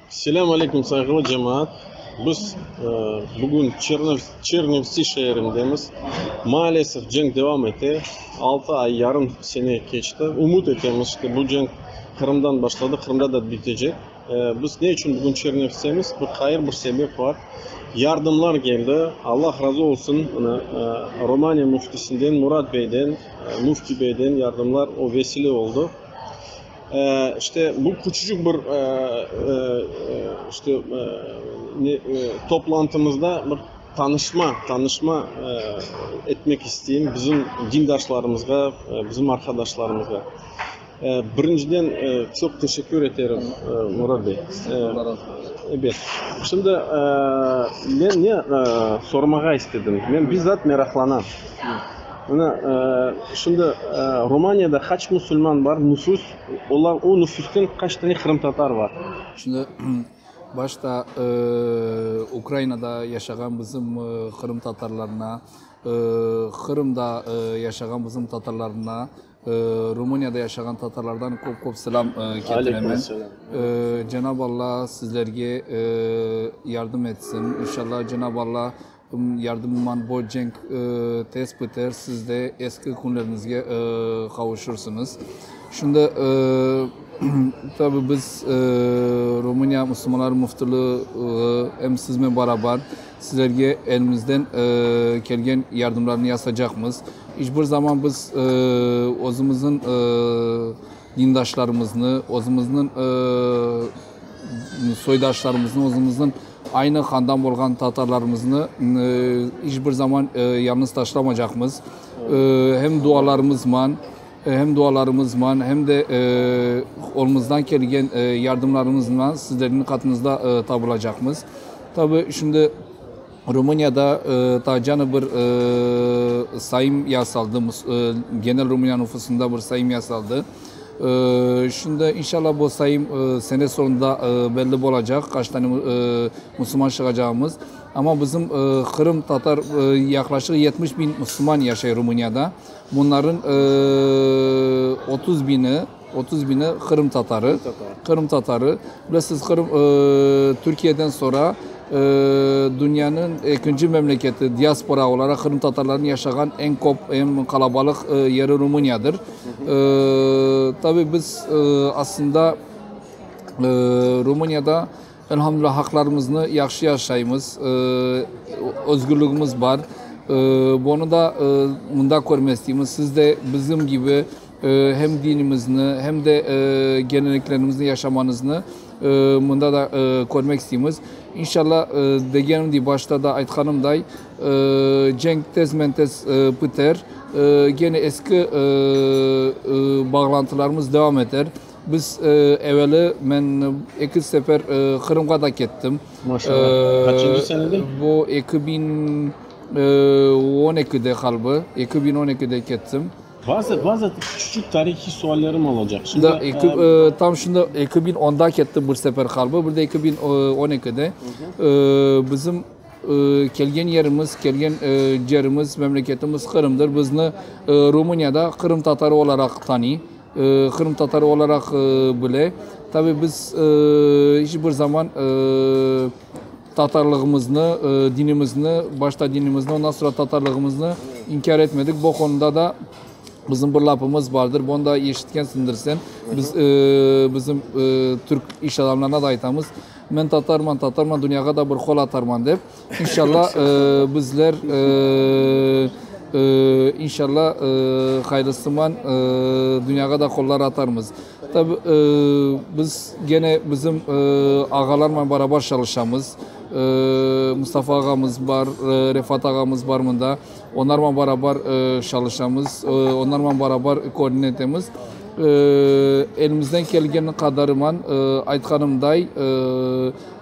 Selâm aleyküm sayğılı cemaat. Biz bugün Çernivtsi şeerindemiz. Maalesef cenk devam ete. Altı ay yarım sene keçti. Ümüt etemiz ki, bu cenk Qırımdan başladı, Qırımda da bitecek. Biz ne içün bugün Çernivtsemiz? Bir hayır bir sebep bar. Yardımlar keldi. Allah razı olsun, mına, Romaniya müftisinden, Murat beyden, müfti beyden yardımlar o vesile oldı. İşte, bu küçücik bir işte toplantımızda bir tanışma, tanışma etmek isteyim bizim dindaşlarımızğa, bizim arqadaşlarımızğa. Birinciden çoq teşekkür eterim, Murat bey. Ebet, şimdi men ne sormağa istedim, men bizzat meraqlanam. Mına, şimdi Rumaniyada qaç musulman bar, nüfus, olar, o nüfusten qaç tane qırımtatar bar? Şimdi, başta Ukrainada yaşağan bizim qırımtatarlarına, Qırımda yaşağan bizim tatarlarına, Rumaniyada yaşağan tatarlardan köp-köp selam ketiremen. Cenab-ı Allah sizlerge yardım etsin. İnşallah, Cenab-ı Allah Yardımman bu cenk tez piter, siz de eski künlerinizge qavuşırsıñız. Şimdi tabi biz Rumıniya Müslümanlar Müftülüği em siznen barabar sizlerge elimizden kelgen yardımlarnı yasacaqmız. İç bir zaman biz özümüzün Dindaşlarımıznı, özümizniñ soydaşlarımıznı, özümizniñ aynı qandan bolğan tatarlarımıznı iç bir zaman yalnız taşlamaycaqmız. Hem dualarımızman, hem dualarımızman, hem de qolumızdan kelgen yardımlarımızla sizlerniñ qatınızda tabılacaqmız. Tabii şimdi Rumuniyada taa canı bir sayım yasaldı, genel Rumıniya nufusında bir sayım yasaldı. Şimdi inşalla bu sayım sene soñunda belli bolacaq, qaç tane musulman şığacağımız. Amma bizim Qırım Tatar yaqlaşık yetmiş biñ musulman yaşay Rumuniyada. Bunların otuz biñi, Otuz bini qırımtatarı, qırımtatarı. Bilesiz, Qırım, Türkiyeden soñra dünyanıñ ekinci memleketi diaspora olaraq qırımtatarlarnıñ yaşağan eñ kop, eñ qalabalıq yeri Rumıniyadır. Tabii biz aslında Rumıniyada, Elhamdülillah, haqlarımıznı yahşı yaşaymız, özgürligimiz bar. Bunı da mında körmek isteymiz. Siz de bizim kibi hem dinimizni, hem de geleneklerimizni yaşamañıznı mında da körmek isteymiz. İnşallah, degenim dey, başta da aytqanımday, cenk tezmen-tez piter, gene eski bağlantılarımız devam eter. Biz, eveli men eki sefer Qırımğa da kettim. Maşallah. Qaçıncı senede? Bu eki biñ on ekide qalbi, eki biñ on ekide kettim. Bazı, bazı küçücik tarihiy suallerim olacaq. Da, eki, tam şimdi eki biñ onda kettim bir sefer qalbi, bir de eki biñ on ekide. Bizim kelgen yerimiz, kelgen cerimiz, memleketimiz Qırımdır. Bizni Rumıniyada qırımtatarı olaraq tanıy. Qırımtatarı olaraq bile, tabi biz iç bir zaman tatarlığımıznı, dinimizni, başta dinimizni, ondan soñra tatarlığımıznı inkâr etmedik. Bu qonuda da bizim bir lafımız bardır, bunı da eşitkensindir sen, biz bizim Türk iş adamlarına da aytamız, Men tatarman, tatarman, dünyağa da bir qol atarman dep. İnşalla bizler İnşalla ğayrısıman dünyağa da qollar atarmız. Tabi biz gene bizim ağalarla beraber çalışamız. Mustafa ağamız bar, Refat ağamız bar mında. Onlarla beraber çalışamız. Onlarla beraber körüne etemiz. Elimizden kelgeni qadarıman aytqanımday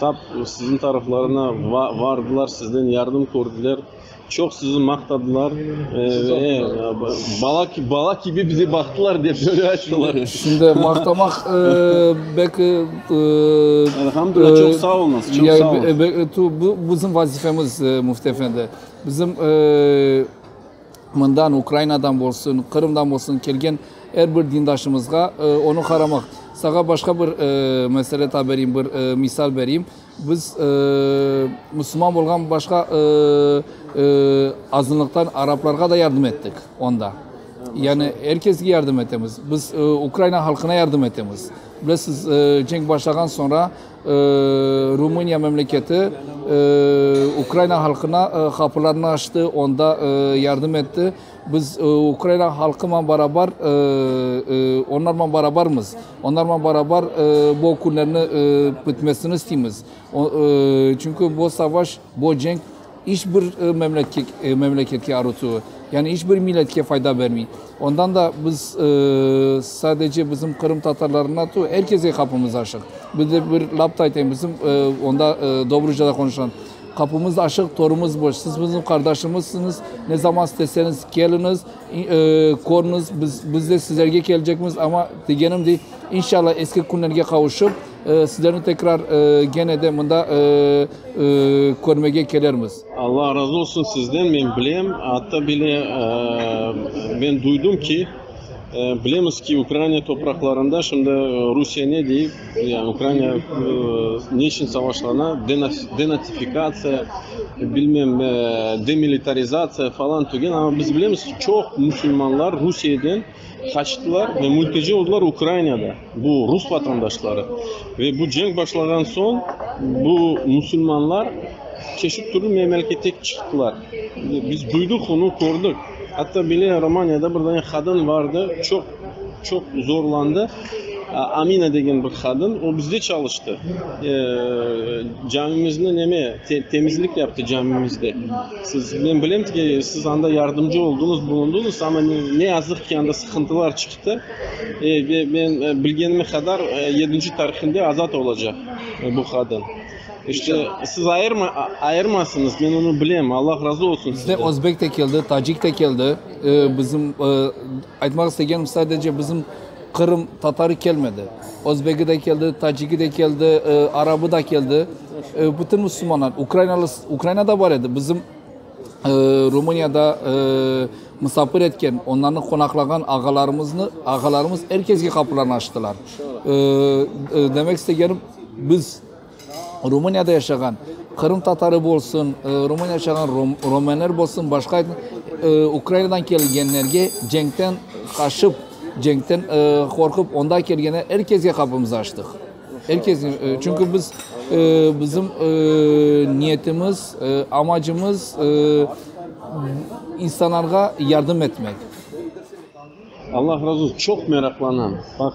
Tap siziñ taraflarına vardılar, sizden yardım kördiler, çoq sizi maqtadılar ve bala kibi bize baqtılar, dep böyle ayttılar. Şimdi maqtamaq belki Elhamdülillah, çoq sağ olunız, çoq sağ olunız. Bu bizim vazifemiz, müftieefendi. Bizim Mından, Ukrainadan bolsun, Qırımdan bolsun kelgen er bir dindaşımızğa onı qaramaq. Sağa başqa bir mesele ta bereyim, bir misal bereyim. Biz musulman bolğan başqa azınlıqtan araplarğa da yardım ettik onda. Yani er kesge yardım etemiz. Biz Ukraina halqına yardım etemiz. Bilesiz, cenk başlağan soñra Rumıniya memleketi Ukraina halqına qapılarını açtı, onda yardım etti. Biz Ukraina halqınen barabar, onlarnen barabarmız. Onlarnen barabar bu okunlarnı bitmesini isteymiz. Çünki bu savaş. Bu cenk iç bir memleketke arutsuv, yani iç bir milletke fayda bermey. Ondan da biz sadece bizim qırımtatarlarına tu, er kese qapımız aşıq. Bir de bir laf da aytayım, bizim onda Dobrucada qonuşan, Qapımız aşıq, torumız boş. Siz bizim qardaşımızsıñız, ne zaman isteseñiz keliñiz, körüñiz, biz de sizlerge kelecekmiz, amma degenim dey, inşallah eski künlerge qavuşıp, Sizlerni tekrar gene de mında körmege kelermiz. Allah razı olsun sizden, men bilem, atta bile men duydım ki, bilemiz ki, Ukraina topraqlarında şimdi Rusiye ne dey, yani Ukraina ne için savaşlana, denatifikatsiya, bilmem, demilitarizatsiya falan tügen, amma biz bilemiz ki, çoq musulmanlar Rusiyeden. Haçlılar ve mülteci oldılar Ukrainada, bu rus vatandaşları. Ve bu cenk başlağan soñ bu musulmanlar çeşit türlü memelkete çıqtılar. Biz duydıq onı, kördik. Atta bile Romaniyada bir dane qadın vardı, çoq, çoq zorlandı. Amina degen bir qadın, o bizde çalıştı. Camimizni neme, temizlik yaptı camimizde. Siz, men bilem ki, siz anda yardımcı oldıñız, bulundıñız, amma ne yazıq ki, anda sıqıntılar çıqtı. Ve men bilgenime qadar yedinci tarihinde azat olacaq bu qadın. İşte, siz ayırma, ayırmasıñız, men onı bilem. Allah razı olsun sizden. Bizde özbek de keldi, tacik de keldi, bizim Aytmaq istegenim, sadece bizim Qırım Tatarı kelmedi, Özbegi de keldi, Taciki de keldi, Arabı da keldi, bütün Müslümanlar, Ukrainalı, Ukraina da bar edi, bizim Rumuniyada musafir etken, onlarnı qonaqlağan ağalarımıznı, ağalarımız er keske qapılarını açtılar. Demek istegenim, biz. Rumuniyada yaşağan Qırım Tatarı bolsun, Rumuniyada yaşağan Romenler bolsun, başqa Ukrainadan kelgenlerge cenkten qaşıp, cenkten qorqıp onda kelgenler, er kesge qapımızı açtıq. Er kesge, çünki biz, bizim niyetimiz, amacımız insanlarğa yardım etmek. Allah razı olsun, çoq meraqlanam. Baq,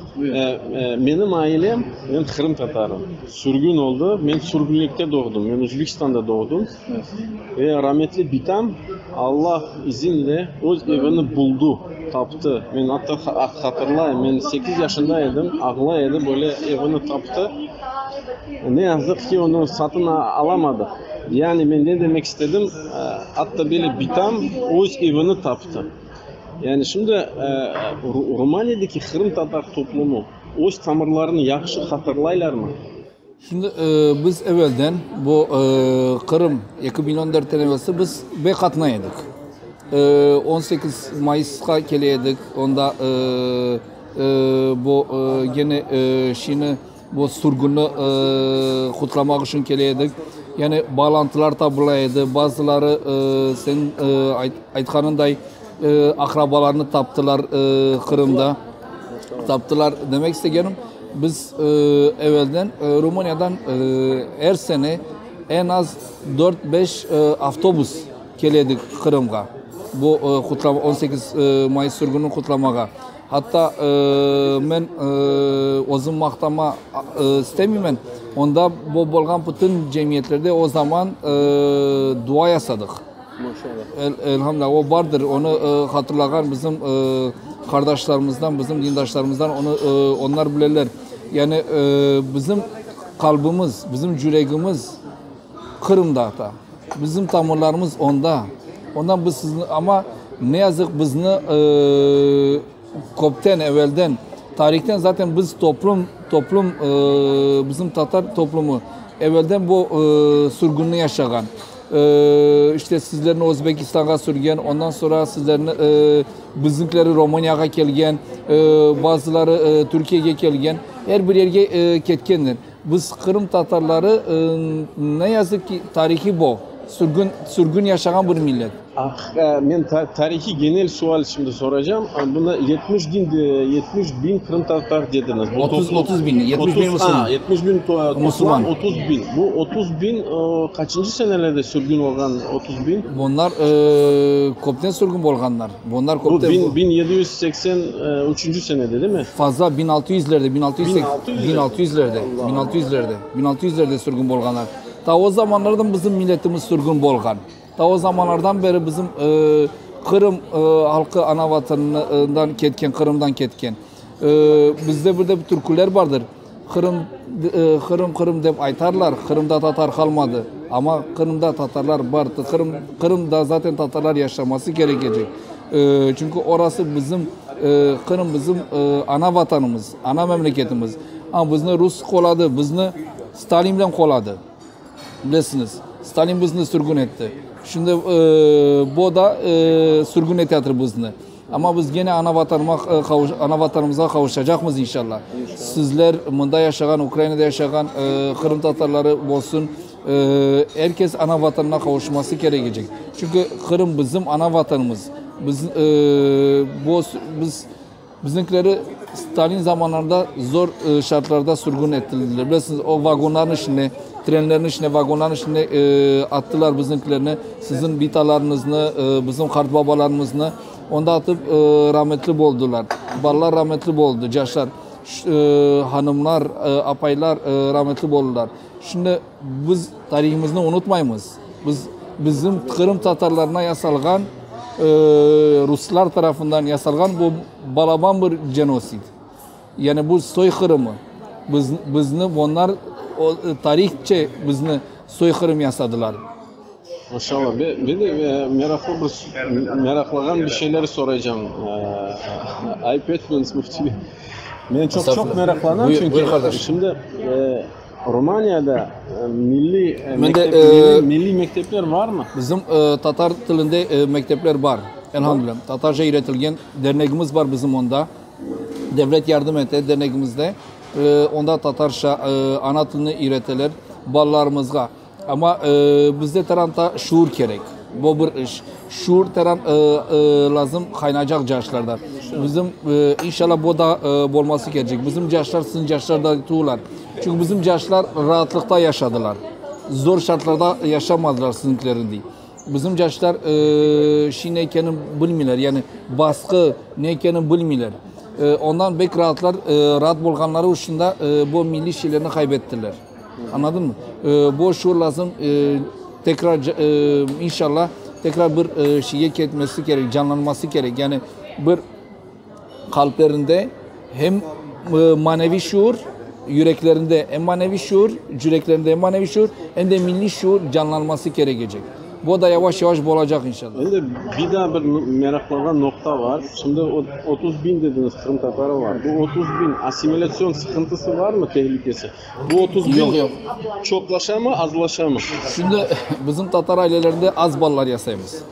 menim ailem, men qırımtatarım, sürgün oldı, men sürgünlikte doğdım, men Özbekistanda doğdım ve rametli bitam Allah izinle öz evini buldı, taptı. Men atta hatırlayım, men sekiz yaşında edim, ağlay edi, böyle evini taptı. Ne yazıq ki, onı satın alamadıq. Yani men ne demek istedim, atta böyle bitam öz evini taptı. Yani şimdi Rumaniyedeki qırımtatar toplumı öz tamırlarını yahşı hatırlaylarmı? Şimdi biz evelden bu Qırım eki biñ on dörtten evelsi biz bey qatnay edik. On sekiz mayısqa kele edik, onda bu gene şiini Bu sürgünni qutlamaq içün kele edik. Yani bağlantılar tabıla edi. Bazıları seniñ aytqanınday aqrabalarını taptılar Qırımda. Taptılar demek istegenim, biz evelden Rumıniyadan er sene en az dört-beş avtobus kele edik Qırımğa, bu on sekiz may sürgünini qutlamağa. Hatta men özüm maqtama istemeymen, onda bolğan bütün cemiyetlerde o zaman dua yasadıq. Elhamdülillah, o bardır, onı hatırlağan bizim qardaşlarımızdan, bizim dindaşlarımızdan onlar bileler. Yani bizim qalbimiz, bizim yüregimiz. Qırımda ata. Bizim tamırlarımız onda. Ondan biz sizni, amma ne yazıq bizni köpten evelden, tarihten zaten biz toplum, toplum bizim tatar toplumı evelden bu sürgünni yaşağan. İşte sizlerni Özbekistanğa sürgen, ondan sonra sizlerni, bizimkileri Romaniyağa kelgen, bazıları Türkiyege kelgen, er bir yerge ketkenler. Biz, Qırım Tatarları, ne yazıq ki, tarihi bol, sürgün, sürgün yaşağan bir millet. Ah, men tarihi genel sual şimdi soracağım. Buna yetmiş bin, yetmiş bin Qırım Tatar dediniz. Otuz, otuz bin, yetmiş bin Müslüman. Ha, yetmiş bin Müslüman, otuz bin. Bu otuz bin kaçıncı senelerde sürgün olğan otuz bin? Bunlar, köpten sürgün bolğanlar. Bunlar köp de. Bu biñ yedi yüz seksen üçünci senede değil mi? Fazla biñ altı yüzlerde, biñ altı yüz biñ altı yüzlerde, biñ altı yüzlerde, biñ altı yüzlerde, biñ altı yüzlerde sürgün bolğanlar. Ta o zamanlardan bizim milletimiz sürgün bolğan. Ta o zamanlardan beri bizim e, Qırım e, halkı ana vatanından ketken, Qırımdan ketken. E, bizde bir de bir türküler vardır. Qırım, Qırım, Qırım dep aytarlar, Qırımda tatar qalmadı, amma Qırımda tatarlar bar, Qırım, Qırımda zaten tatarlar yaşaması kerekecek, çünki orası bizim, Qırım bizim ana vatanımız, ana memleketimiz, amma bizni rus qoladı, bizni Stalinle qoladı. Bilesiñiz, Stalin bizni sürgün etti. Şimdi bo da sürgün eteatır bizni. Amma biz gene ana Vatanıma qavuşa, ana Vatanımızğa qavuşacaqmız inşallah. Sizler, mında yaşağan, Ukrainada yaşağan qırımtatarları bolsun, er kes ana Vatanına qavuşması kerek ecek. Çünki Qırım bizim ana Vatanımız. Biz, bo, biz. Bizniñkileri stalin zamanlarında zor şartlarda sürgün ettirildiler. Bilesiñiz, o vagonlarnıñ içinde, trenlerniñ içinde, vagonlarnıñ içinde attılar bizniñkilerni, siziñ bitalarıñıznı, bizim qartbabalarımıznı onda atıp rametli boldılar. Balalar rametli boldı, caşlar, hanımlar, apaylar rametli boldılar. Şimdi. Biz tarihımıznı unutmaymız. Biz bizim Qırım tatarlarına yasalğan, ruslar tarafından yasalğan bu balaban bir genosid. Yani bu soyqırımı. Biz bizni onlar tarihçe bizni soyqırım yasadılar. Maşallah. Ben de meraqlı bir meraqlağan bir şeyler soraycam. Ayıp etmeñiz, müfti bey. Men çoq-çoq meraqlanam çünki. Buyur qardaş. Şimdi Rumaniyada milliy mektepler varmı? Bizim tatar tilinde mektepler bar. Elhamdülillah. Tatarca öğretilgen dernegimiz bar bizim onda. Devlet yardım ete dernegimizde. Onda tatarca ana tilini öğreteler balalarımızğa. Amma bizde taran ta şuur kerek. Bu bir iş. Şuur taran lazım qaynacaq caşlarda. Bizim, inşalla, bu da bolması kercek. Bizim caşlar siziñ caşlardañ tuğlar. Çünki bizim caşlar raatlıqta yaşadılar. Zor şartlarda yaşamadılar siziñkilerindey. Bizim caşlar şey ne ekenini bilmeyler, yani basqı ne ekenini bilmeyler. Ondan bek raatlar, raat bolğanları içün de bu milliy şeylerini qaybettiler. Añladınmı? Boş yol lazım, tekrar, inşallah, tekrar bir şeyge ketmesi kerek, canlanması kerek. Yani bir qalplerinde hem maneviy şuur, yüreklerinde hem maneviy şuur, cüreklerinde hem maneviy şuur, hem de milliy şuur canlanması kerekecek. Bu da yavaş-yavaş bolacaq inşallah. Şimdi bir daa bir meraqlanğan noqta bar. Şimdi o otuz biñ dediñiz qırımtatarı bar. Bu otuz biñ assimilâtsion sıqıntısı barmı, tehlikesi? Bu otuz biñ. Yoq, yoq. Çoqlaşamı, azlaşamı? Şimdi bizim tatar ailelerinde az balalar yasaymız.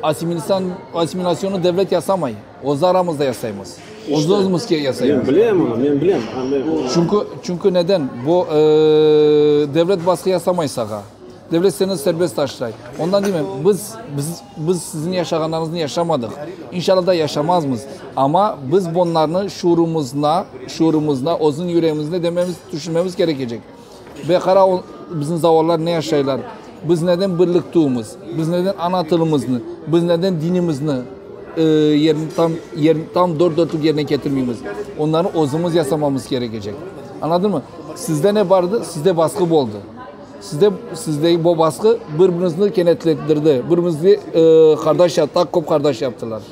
Assimilâtsion, assimilâtsionnı devlet yasamay. Öz aramızda yasaymız. Öz-özümizge yasaymız. Men bilem bunı, men bilem. Çünki, çünki neden? Bu devlet basqı yasamay sağa. Devlet seni serbest taşlay. Ondan diymen, biz, biz, biz sizin yaşağanlarıñıznı yaşamadıq, inşalla da yaşamazmız. Amma biz bunlarnı şuurumızna, şuurumızna, özüniñ yüreğimizne dememiz, tüşünmemiz kerekecek. Ve qara, o, bizim zavallılar ne yaşaylar, biz neden birliktüimiz, biz neden ana tılımıznı, biz neden dinimizni, e, yerini tam, yerini tam dört dörtlük yerine ketirmeymiz. Onları özümiz yasamamız kerekecek. Añladınmı? Sizde ne bardı? Sizde basqı boldı. Sizde, sizdeki bu basqı bir-birinizni kenetlettirdi, bir-birinizge qardaş yap, daa köp qardaş yaptılar.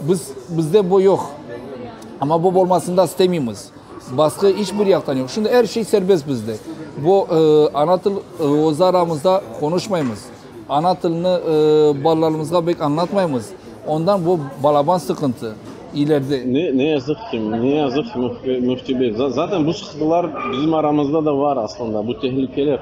Biz, bizde bu yoq. Amma bu bolmasını da istemeymiz. Basqı iç bir yaqtan yoq. Şimdi er şey serbest bizde. Bu ana til, öz aramızda qonuşmaymız. Ana tilini balalarımızğa bek añlatmaymız, ondan bu balaban sıqıntı, ileride. Ne yazıq ki, ne yazıq ki, Müfti bey. Zaten bu sıqıntılar bizim aramızda da var aslında, bu tehlikeler.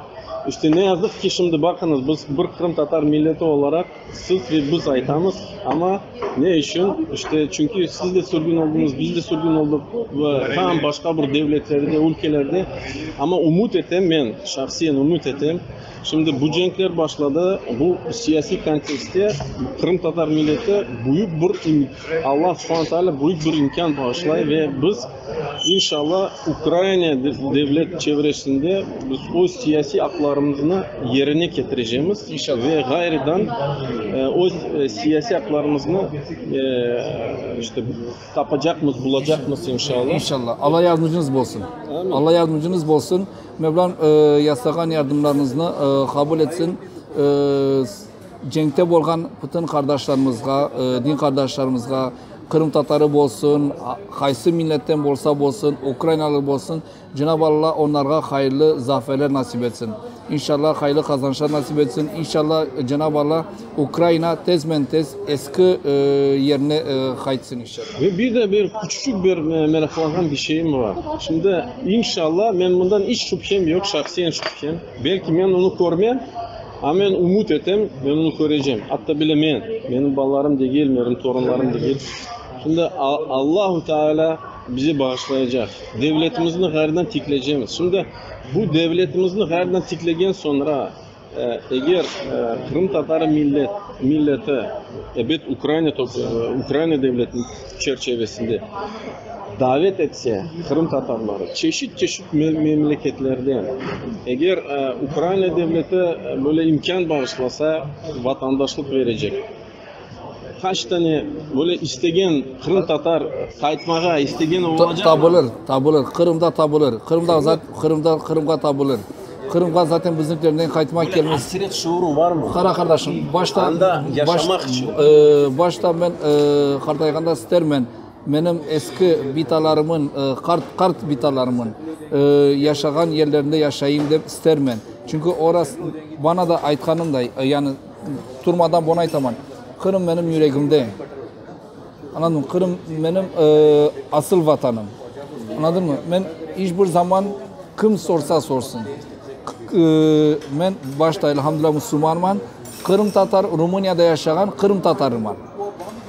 İşte ne yazıq ki, şimdi baqıñız, biz bir qırımtatar milleti olaraq siz ve biz aytamız, amma ne içün? İşte çünki siz de sürgün oldıñız, biz de sürgün olduq ve tam başqa bir devletlerde, ülkelerde. Amma ümüt etem, men şahsiyen ümüt etem, Şimdi bu cenkler başladı, bu siyasiy kontekstte qırımtatar milleti büyük bir Allah subhana taala büyük bir imkân bağışlay ve biz inşalla Ukraina devlet çevresinde biz öz siyasiy aqlarımıznı yerine ketirecemiz ve ğayrıdan öz siyasiy aqlarımıznı işte Tapacaqmız, bulacaqmız inşallah. İnşallah. Alla yardımcınız bolsun. Amin. Alla yardımcınız bolsun. Mevlam e, yasağan yardımlarınıznı e, kabul etsin. E, cenkte bolğan bütün qardaşlarımızğa, e, din qardaşlarımızğa, Qırım Tatarı bolsun, qaysı milletten bolsa bolsun, Ukraynalı bolsun, Cenab-ı Alla onlarğa hayırlı zaferler nasip etsin. İnşallah hayırlı qazançlar nasip etsin. İnşallah Cenab-ı Alla Ukrayına tezmen tez eski yerine qaytsın inşallah. Ve bir de bir küçücik bir meraqlanğan bir şeyim var. Şimdi inşallah men bundan iç şübhem yoq, şahsiyen şübhem. Belki men onı körmem, amma men ümüt etem, men onı körecem. Atta bile men, menim balalarım degil, menim torunlarım degil. Şimdi Allahu Teala. Bizi bağışlayacaq. Devletimizni ğayrıdan tiklecemiz. Şimdi bu devletimizni ğayrıdan tiklegen soñra, eger qırımtatarı millet, milleti, ebet Ukraina toprağı, Ukraina devleti çerçevesinde davet etse qırımtatarları çeşit-çeşit memleketlerden, eger Ukraina devleti böyle imkân bağışlasa, vatandaşlıq verecek. Qaç tane böyle istegen qırımtatar qaytmağa istegen olacaq? Tabılır, tabılır. Qırımda tabılır. Qırımda, Qırımda, Qırımğa tabılır. Qırımğa zaten bizimkiler ne qaytmaq kelmez. Aqiret şuuru barmı? Qara qardaşım, başta, başta men qartayğanda istermen menim eski bitalarımın, qart, qart bitalarımın yaşağan yerlerinde yaşayım dep istermen. Çünki oras, bana da aytqanımday, yani, Turmadan bunı aytaman, Qırım menim yüregimde, añladınmı? Qırım menim asıl Vatanım, añladınmı? Men iç bir zaman kim sorsa sorsın, men başta, elhamdülillah, musulmanman, qırımtatar, Rumuniyada yaşağan qırımtatarıman,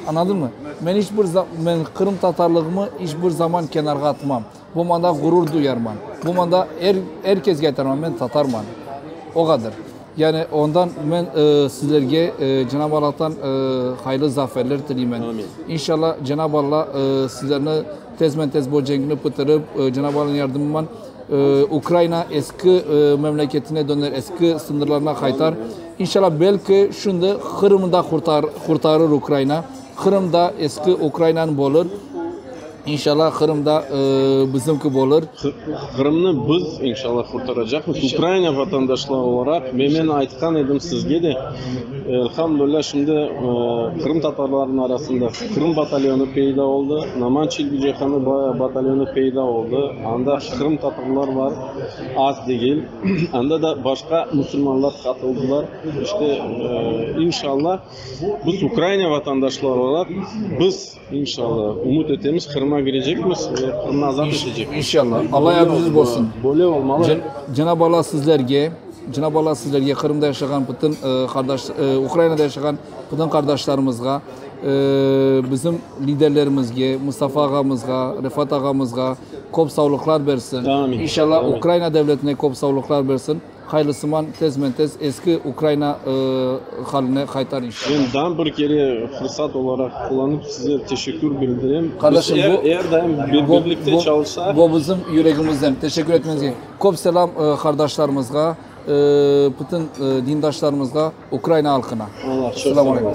añladınmı? Men iç bir zaman, men qırımtatarlığımı iç bir zaman kenarğa atmam. Bu manda ğurur duyarman. Bu manda er, er kezge aytarman, men tatarman. O qadır. Yani ondan men e, sizlerge e, Cenab-ı Allah'tan e, hayırlı zaferler tileymen. Amin. İnşallah Cenab-ı Allah e, sizlerni tezmen tez bu cengni bitirip, e, Cenab-ı Allah'ın yardımıyla e, Ukrayina eski e, memleketine döner, eski sınırlarına kaytar. İnşallah belki şimdi Kırım'da kurtar, kurtarır Ukrayina. Qırım da eski Ukrainanıñ bolır. İnşalâ Qırım da bizimki bolır. Qırımnı biz inşalâ qurtaracaqmız Ukraina vatandaşları olaraq ve men aytqan edim sizge de, elhamdülillah şimdi qırımtatarlarnıñ arasında Qırım batalyonı peyda oldı, Naman Çilbicehanı batalyonı peyda oldı, anda qırımtatarlar bar, az degil, anda da başqa musulmanlar qatıldılar, işte, inşalâ. Biz Ukraina vatandaşları olaraq biz, inşalla, ümüt etemiz, Qırım'a kirecekmiz ve Qırımnı azat etecekmiz. İnşalla. Allah yardımcınız bolsun. Böyle olmalı. Cenab-ı Allah sizlerge, Cenab-ı Allah sizlerge, Qırımda yaşağan bütün qardaş, Ukrainada yaşağan bütün qardaşlarımızğa, bizim liderlerimizge, Mustafa ağamızğa, Refat ağamızğa köp savlıqlar bersin. Amin. İnşalla Ukraina devletine köp savlıqlar bersin. Haylısuman tezmen-tez eski Ukrayına haline qaytar inşallah. Men daa bir kere fırsat olaraq qullanıp size teşekkür bildirem. Qardaşım bu. Biz er daim birlikte çalışsaq. Bu bizim yüregimizden. Teşekkür etmenize. Köp selam qardaşlarımızğa, bütün dindaşlarımızğa, Ukrayına halqına. Allah çoq sağ olun.